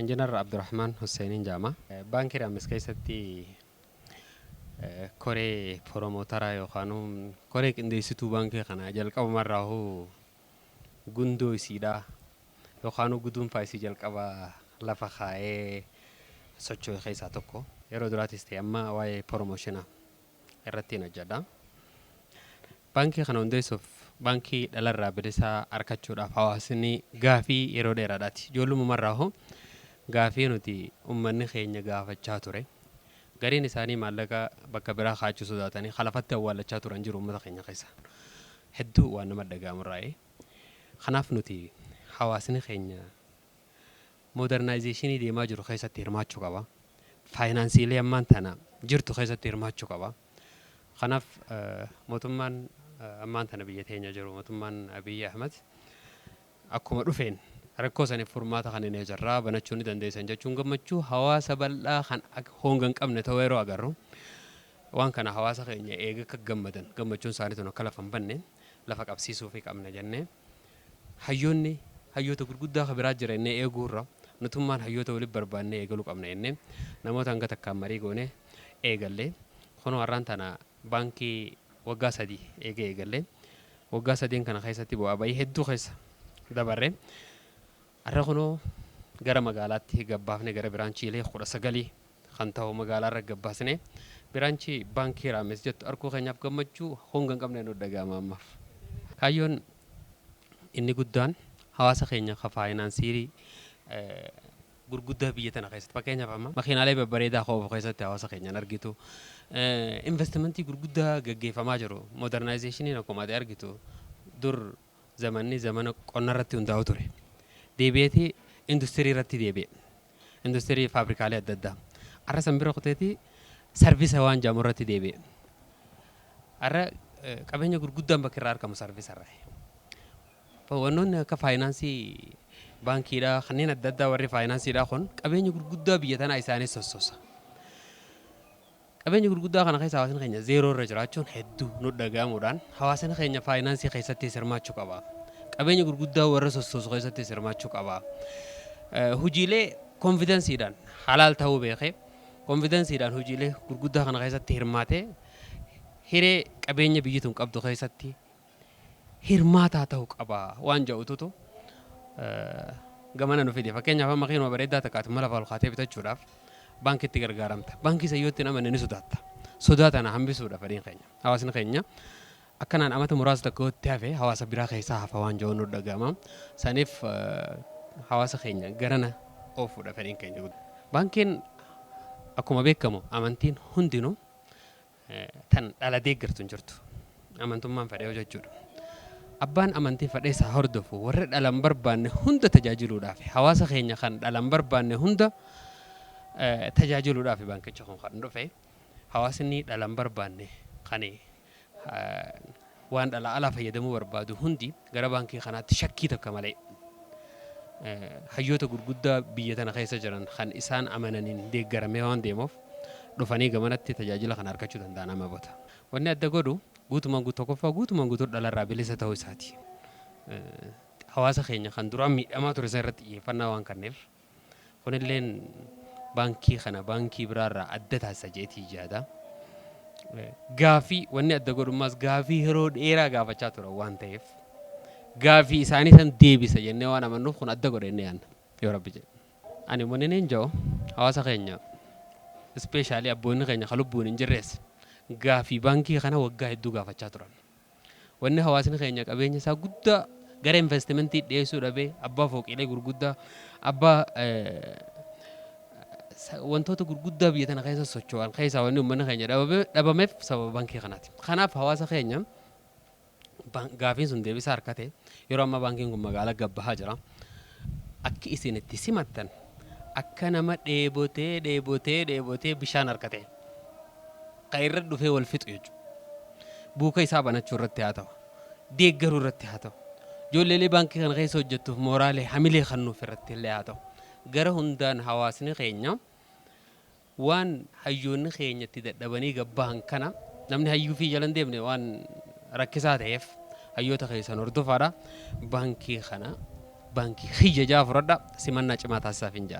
Injinar Abdurahmaan Husseeniin jedhama. Baankii Raammis keessatti koree poromootaraa yookaanuu koree qindeessituu baankii kanaa jalqabuma irraahuu gundoo isiidha yookaanuu guduunfaa isii jalqaba lafa kaa'ee socho'e keessaa tokko. Yeroo duraatis ta'e amma waa'ee poromooshina irrattiin hojjedha. Baankii kana hundeessuuf baankii dhalarraa bilisaa arkachuudhaaf hawaasni gaafii yeroo dheeraadhaati. Ijoollumumarraa hoo gaafii nuti ummanni keenya gaafachaa ture. Gariin isaanii maallaqa bakka biraa kaachuu sodaatanii kalafatti awwaallachaa turan jiru ummata keenya keessa. Hedduu waan nama dhaga'amurraayi. Kanaaf nuti hawaasni keenya Modernaayizeeshinii deemaa jiru keessatti hirmaachuu qaba. Faayinaansiilee ammaan tana jirtu keessatti hirmaachuu qaba. Kanaaf mootummaan ammaan tana biyya teenya jiru mootummaan Abiy Ahmed akkuma dhufeen rakkoo saniif furmaata kanninee jirra banachuu ni dandeessan jechuun gammachuu hawaasa bal'aa kan honga hin qabne ta'uu yeroo agarru waan kana hawaasa keenya eega akka gammadan gammachuun isaanii tun akka lafa hin banne lafa qabsiisuufii qabna jennee Hayyoonni hayyoota gurguddaa ka biraa jira jennee eeguu irra nutummaan hayyoota wali barbaannee eegaluu qabna jennee namoota hanga takkaan marii goonee eegalle. Kunoo arraan tana baankii waggaa sadii eega eegallee. Waggaa sadeen kana keessatti bu'aa ba'ii hedduu keessa dabarre. Arra kunoo gara magaalaatti gabbaafne gara biraanchiilee 19 kan tahu magaalaarra gabbaasnee biraanchii baankii Raamees jettu arguu keenyaaf gammachuu honga hin qabne nutti dhaga'ama ammaaf. Kaayyoon inni guddaan hawaasa keenya ka faayinaansiirii gurguddaa biyya tana keessatti fakkeenyaaf amma makiinaalee babbareedaa ka oofu keessatti hawaasa keenyaan argitu investimentii gurguddaa gaggeeffamaa jiru modernizationin akkuma ati argitu dur Zamanni zamana qonna irratti hundaa'u ture. Deebi'eeti industirii irratti deebi'e. Industirii faabrikaalee adda addaa. Har'a san bira kuteeti sarvisa waan jedhamu irratti deebi'e. Har'a qabeenya gurguddaan bakki irraa argamu sarvisa irraa. Wannoonni akka faayinaansii baankiidhaa kanneen adda addaa warri faayinaansiidhaa kun qabeenya gurguddaa biyya tanaa isaanii sossosa. Qabeenya gurguddaa kana keessa hawaasni keenya zeeroo irra jiraachuun heddu nutti dhaga'amuudhaan hawaasni keenya faayinaansii keessattis hirmaachuu qaba. Qabeenya gurguddaa warra sossoosu keessattis hirmaachuu qaba. Hojiilee konfidansiidhaan halaal ta'uu beekee konfidansiidhaan hojiilee gurguddaa kana keessatti hirmaatee hiree qabeenya biyyi tun qabdu keessatti hirmaataa ta'u qaba waan ja'ututu gamana nu fide. Fakkeenyaaf amma keenuma bareeddaa takka ati mala ol kaatee bitachuudhaaf baankitti gargaaramta. Baankii san yoo itti hin amanne ni sodaatta. Sodaa tana hambisuudha fedhiin keenya. Hawaasni keenya akkanaan amata muraasa takka yoo itti hafe hawaasa biraa keessaa hafa waan ja'uun nu dhaga'ama. Saniif hawaasa keenya garana oofuudha fedhiin keenya. Baankiin akkuma beekamu amantiin hundinuu tan dhala deeggartu hin jirtu. Amantummaan fedhee hojjechuudha. Abbaan amantii fedhees haa hordofu warra dhala hin barbaanne hunda tajaajiluudhaafi. Hawaasa keenya kan dhala hin barbaanne hunda tajaajiluudhaafi baankichi kun kan dhufe. Hawaasni dhala hin barbaanne kan Waan dhalaa alaa fayyadamuu barbaadu hundi gara baankii kanaatti shakkii takka malee hayyoota gurguddaa biyya tana keessa jiran kan isaan amananiin deeggaramee waan deemuuf dhufanii gamanatti tajaajila kana argachuu danda'an amma bota. Wanni adda godhu guutumaan guutuu tokkoffaa guutumaan guutuu dhala irraa bilisa ta'uu isaati. Hawaasa keenya kan duraan miidhamaa ture san irratti xiyyeeffannaa waan kanneef. Kunilleen baankii kana baankii biraarraa adda taasisa jedheetii yaada. Gaafii wanni adda godhummaas gaafii yeroo dheeraa gaafachaa turan waan ta'eef gaafii isaanii san deebisa jennee waan amannuuf kun adda godhe inni yaadna yoo rabbi jedhe. Ani wanni niin ja'u hawaasa keenya ispeeshaalii abboonni keenya ka lubbuun hin jirrees gaafii baankii kana waggaa hedduu gaafachaa turan. Wanni hawaasni keenya qabeenya isaa guddaa gara investimentii dhiyeessuu dhabee abbaa fooqiilee gurguddaa, abbaa wantoota gurguddaa biyya tana keessa socho'an keessaa wanni uummanni keenya dhabameef sababa baankii kanaati. Kanaaf hawaasa keenya gaafiin sun deebisaa harkate yeroo ammaa baankiin kun magaalaa gabbahaa jira. Akki isin itti simattan akka nama dheebotee dheebotee dheebotee bishaan harkate. ka irra dhufee wal fixu jechu. Buuka isaa banachuu irratti haa ta'u, deeggaruu irratti haa ta'u, ijoolleelee baankii kana keessa hojjettuuf mooraalee, hamilee kannuuf irratti illee haa ta'u, gara hundaan hawaasni keenya waan hayyoonni keenya itti dadhabanii gad bahan kana namni hayyuu fi jala hin deemne waan rakkisaa ta'eef hayyoota keessan hordofaadha. Baankii kana baankii kiyya ja'aa fudhadha. Simannaa cimaa taasisaafin ja'an.